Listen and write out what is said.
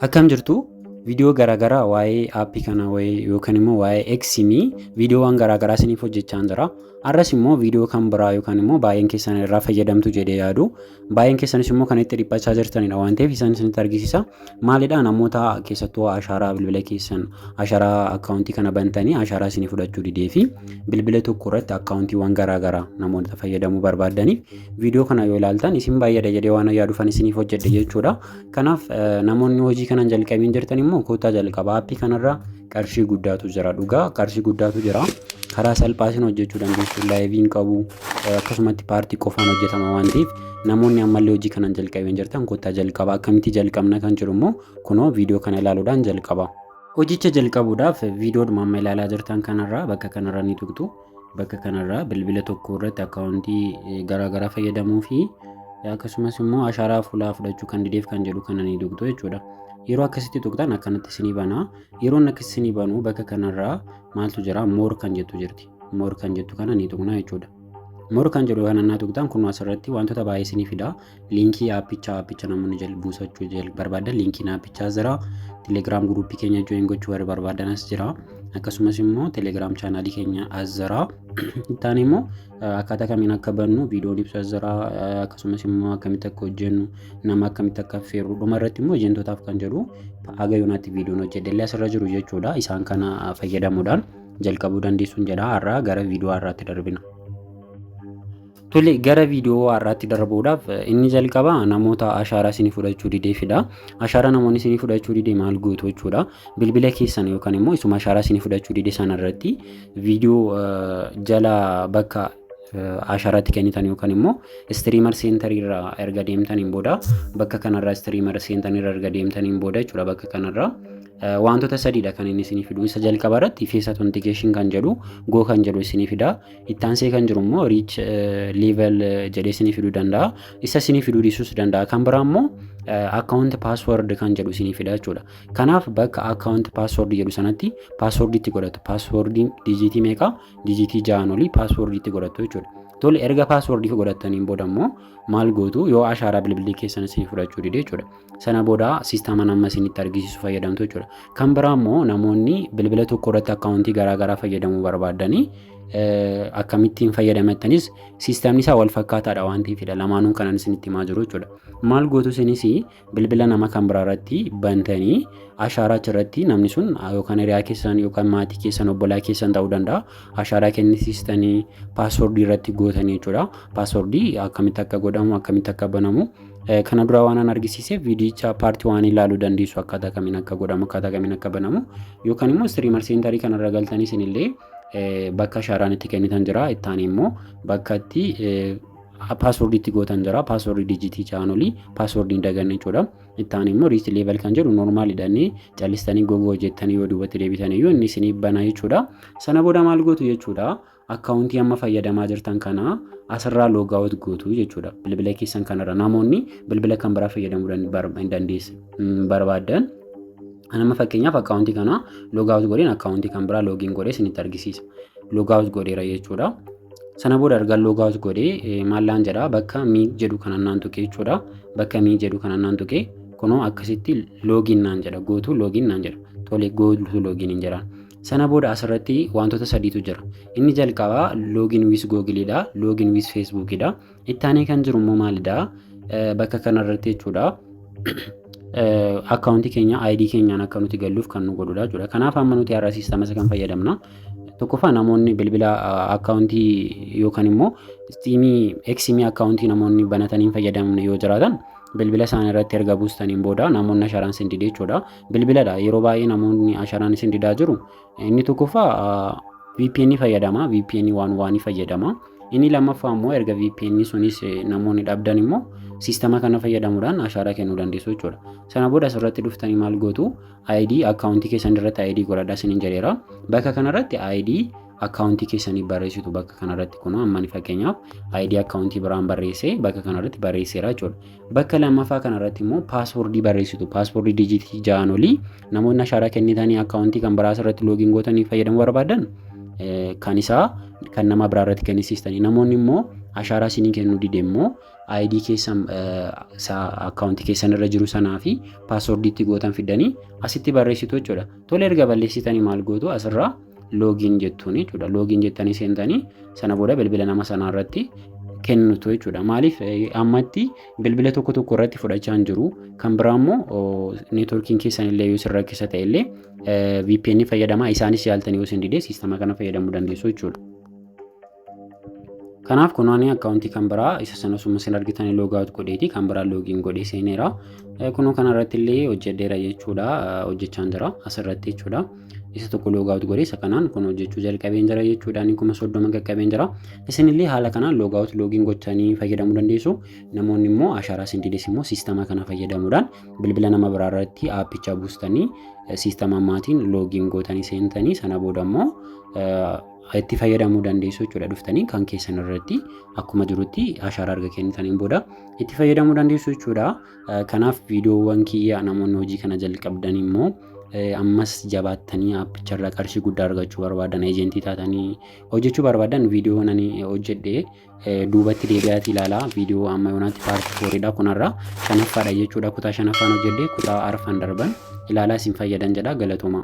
Akkam jirtu viidiyoo garaagaraa waa'ee aappii kana wayii yookaan immoo waa'ee eksimii viidiyoowwan garaagaraa isiniif hojjechaa jira. Har'as immoo viidiyoo kan biraa yookaan immoo baay'een keessan irraa fayyadamtu jedhee yaadu. Baay'een keessanis immoo kan itti dhiphachaa jirtanidha waan ta'eef isaan isinitti argisiisa. Maalidha namoota keessattuu ashaaraa bilbila keessan ashaaraa akkaawuntii kana bantanii ashaaraa isinii fudhachuu didee fi bilbila tokko irratti akkaawuntiiwwan garaagaraa namoota fayyadamuu barbaadaniif viidiyoo kana yoo ilaaltan isin baay'eedha jedhee waan yaadufan isiniif hojjedhe jechuudha. Kanaaf namoonni hojii kana hin jalqabiin jirtan immoo kottaa jalqaba aappii kanarra qarshii guddaatu jira dhugaa qarshii guddaatu jira karaa salphaatiin hojjechuu dandeessu laayiviin qabu akkasumatti paartii qofaan hojjetama waan ta'eef namoonni ammallee hojii kana hin jalqabiin jirtan kottaa jalqaba akkamitti jalqabna kan jedhu immoo kunoo viidiyoo kana ilaaluudhaan jalqaba. Hojicha jalqabuudhaaf viidiyoodhuma amma ilaalaa jirtan kanarraa bakka kanarra ni tuqxu. Bakka kanarraa bilbila tokko irratti akkaawuntii garaa garaa fayyadamuu fi akkasumas immoo ashaaraa fuulaa fudhachuu kan dideef kan jedhu kana ni tuqxu jechuudha. Yeroo akkasitti tuqxan akkanatti isinii bana. Yeroon akkas isinii banu bakka kanarraa maaltu jira moor kan jettu jirti. Moor kan jettu kana ni tuqna jechuudha. Moor kan jedhu kana naa tuqxan kun asirratti wantoota baay'ee isinii fida. liinkii aappichaa aappicha namoonni jal buusachuu jal barbaadan liinkiin aappichaa jira telegiraam guruuppii keenya join gochuu warri barbaadan as jira akkasumas immoo telegiraam chaanaalii keenya as jira ittaan immoo akkaataa kamiin akka bannu viidiyoon ibsu as jira akkasumas immoo akkamitti akka hojjennu nama akkamitti akka affeerru dhuma irratti immoo ejentootaaf kan jedhu haga yoonaatti viidiyoon hojjedhellee asirra jiru jechuudha isaan kana fayyadamuudhaan jalqabuu dandeessuun jedha har'aa gara viidiyoo har'aatti darbina. Tole gara viidiyoo har'aatti darbuudhaaf inni jalqaba namoota ashaaraa isinii fudhachuu dideefidha. Ashaaraa namoonni isinii fudhachuu dide maal gootu jechuudha. Bilbila keessan yookaan immoo isuma ashaaraa isinii fudhachuu dide sana irratti viidiyoo jala bakka ashaaraatti kennitan yookaan immoo istiriimar seentarii irraa erga deemtaniin booda bakka kanarraa istiriimar seentarii irraa erga deemtaniin booda jechuudha bakka kanarraa wantoota sadiidha kan inni isinii fidu isa jalqaba irratti fees authentication kan jedhu goo kan jedhu isinii fida Ittaansee kan jiru immoo riich level jedhee isinii fiduu danda'a. Isa isinii fiduu dhiisuus danda'a. Kan biraa immoo account password kan jedhu isinii fida jechuudha. Kanaaf bakka account password jedhu sanatti password itti godhatu. Password dijiitii meeqa? Dijiitii ja'an olii password itti godhatu jechuudha. Tole erga password godhattaniin booda immoo maal gootu yoo ashaaraa bilbilii keessan isinii fudhachuu dide jechuudha. Sana booda siistaman amma isinitti argisiisu fayyadamtu jechuudha. Kan biraa immoo namoonni bilbila tokko irratti akkaawuntii garaagaraa fayyadamuu barbaadanii akkamittiin fayyadamettanis siistamni isaa wal fakkaataadha waan ta'eefidha lamaanuun kanan isinitti himaa jiru jechuudha. Maal gootu isinis bilbila nama kan biraa irratti bantanii ashaaraa achirratti namni sun yookaan hiriyaa keessan yookaan maatii keessan obbolaa keessan ta'uu danda'a ashaaraa kennisiistanii paaswordii irratti gootanii jechuudha. Paaswordii akkamitti akka godhamu akkamitti akka banamu Kana dura waan an argisiiseef viidiyicha paartii waan ilaaluu dandeessu akkaataa kamiin akka godhamu akkaataa kamiin akka banamu yookaan immoo istiriimar seentarii kanarra galtanii isinillee bakka shaaraan itti kennitan jira ittaan immoo bakka itti paaswordii itti gootan jira paaswordii dijitii chaanolii paaswordii hin daganne jechuudha ittaan immoo riisti leeval kan jedhu noormaal hidhanii callistanii gogoo hojjettanii yoo duubatti deebitan iyyuu inni isinii banaa jechuudha sana booda maal gootu jechuudha Akkaawuntii amma fayyadamaa jirtan kana asirraa loogaawut gootu jechuudha. Bilbila keessan kanarra namoonni bilbila kan biraa fayyadamuu hin dandeessu barbaadan. Nama fakkeenyaaf akkaawuntii kana loogaawut godheen akkaawuntii kan biraa loogiin godhee isinitti argisiisa. Loogaawut godheera jechuudha. Sana booda erga loogaawut godhee maallaan jedha bakka mii jedhu kana naan tuqee jechuudha. Bakka mii jedhu kana naan tuqee kunoo akkasitti loogiin naan jedha gootuu loogiin naan jedha. Tole gootuu loogiin hin jedhaan. Sana booda asirratti wantoota sadiitu jira. Inni jalqabaa login with Google dha, login with Facebook dha. Itti aanee kan jiru immoo maalidha? Bakka kanarratti jechuudha. Akkaawuntii keenya ID keenyaan akka nuti galluuf kan nu godhudha jechuudha. Kanaaf amma nuti har'a siistama isa kan fayyadamna. Tokkoffaa namoonni bilbila akkaawuntii yookaan immoo istiimii eksimii akkaawuntii namoonni banatanii hin fayyadamne yoo jiraatan bilbila isaanii irratti erga buustaniin booda namoonni asharaan sin dide jechuudha. Bilbiladha yeroo baay'ee namoonni asharaan isin didaa jiru. Inni tokkoffaa VPN fayyadama. VPN waan waan fayyadama. Inni lammaffaa immoo erga VPN sunis namoonni dhabdan immoo siistama kana fayyadamuudhaan ashaaraa kennuu dandeessu jechuudha. Sana booda asirratti dhuftanii maal gootu ID akkaawuntii keessan irratti ID godhadha isiniin jedheera. Bakka kanarratti ID akkaawuntii keessanii barreessitu bakka kanarratti kunoo ammani fakkeenyaaf ID akkaawuntii biraan barreessee bakka kanarratti barreesseera jechuudha. Bakka lammaffaa kanarratti immoo paaswoordii barreessitu paaswoordii dijiitii ja'an olii namoonni ashaaraa kennitanii akkaawuntii kan biraas irratti loogiin gootanii fayyadamuu barbaadan kan isaa kan nama biraa irratti kennisiistanii namoonni immoo ashaaraa isinii kennuu dide immoo ID keessan akkaawuntii keessan irra jiru sanaa fi paaswoordiitti gootan fidanii asitti barreessitu jechuudha. Tole erga balleessitanii maal gootu asirraa login jettuun jechuudha. Login jettanii seentanii sana booda bilbila nama sanaa irratti kennitu jechuudha. Maaliif ammatti bilbila tokko tokko irratti fudhachaa hin jiru. Kan biraa immoo neetworkiin keessan illee yoo isin rakkisa ta'e illee VPN fayyadamaa isaanis yaaltanii yoo isin didee siistama kana fayyadamuu dandeessu jechuudha. Kanaaf kun ani akkaawuntii kan biraa isa sana osuma isin argitanii loogaawut godheeti kan biraa loogiin godhee seeneera. Kunoo kana irratti illee hojjedheera jechuudha hojjechaan jira asirratti jechuudha. Isa tokko loogaawut godhee isa kanaan kun hojjechuu jalqabeen jira jechuudha inni kuma soddoma qaqqabeen jira. Isin illee haala kanaan loogaawut loogiin gochanii fayyadamuu dandeessu. Namoonni immoo ashaaraa isin dides immoo siistama kana fayyadamuudhaan bilbila nama biraa irratti aappicha buustanii siistama maatiin loogiin gootanii seentanii sana booda immoo itti fayyadamuu dandeessu jechuudha dhuftanii kan keessan irratti akkuma jirutti ashaaraa erga kennitaniin booda itti fayyadamuu dandeessu jechuudha. Kanaaf viidiyoowwan kiyya namoonni hojii kana jalqabdan immoo ammas jabaattanii appicharra qarshii guddaa argachuu barbaadan eejentii taatanii hojjechuu barbaadan viidiyoo nani hojjedhe duubatti deebi'aati ilaalaa viidiyoo amma yoonaatti paartii fooriidha kunarra shanaffaadha jechuudha kutaa shanaffaan hojjedhe kutaa arfan darban ilaalaa isin fayyadan jedha galatooma.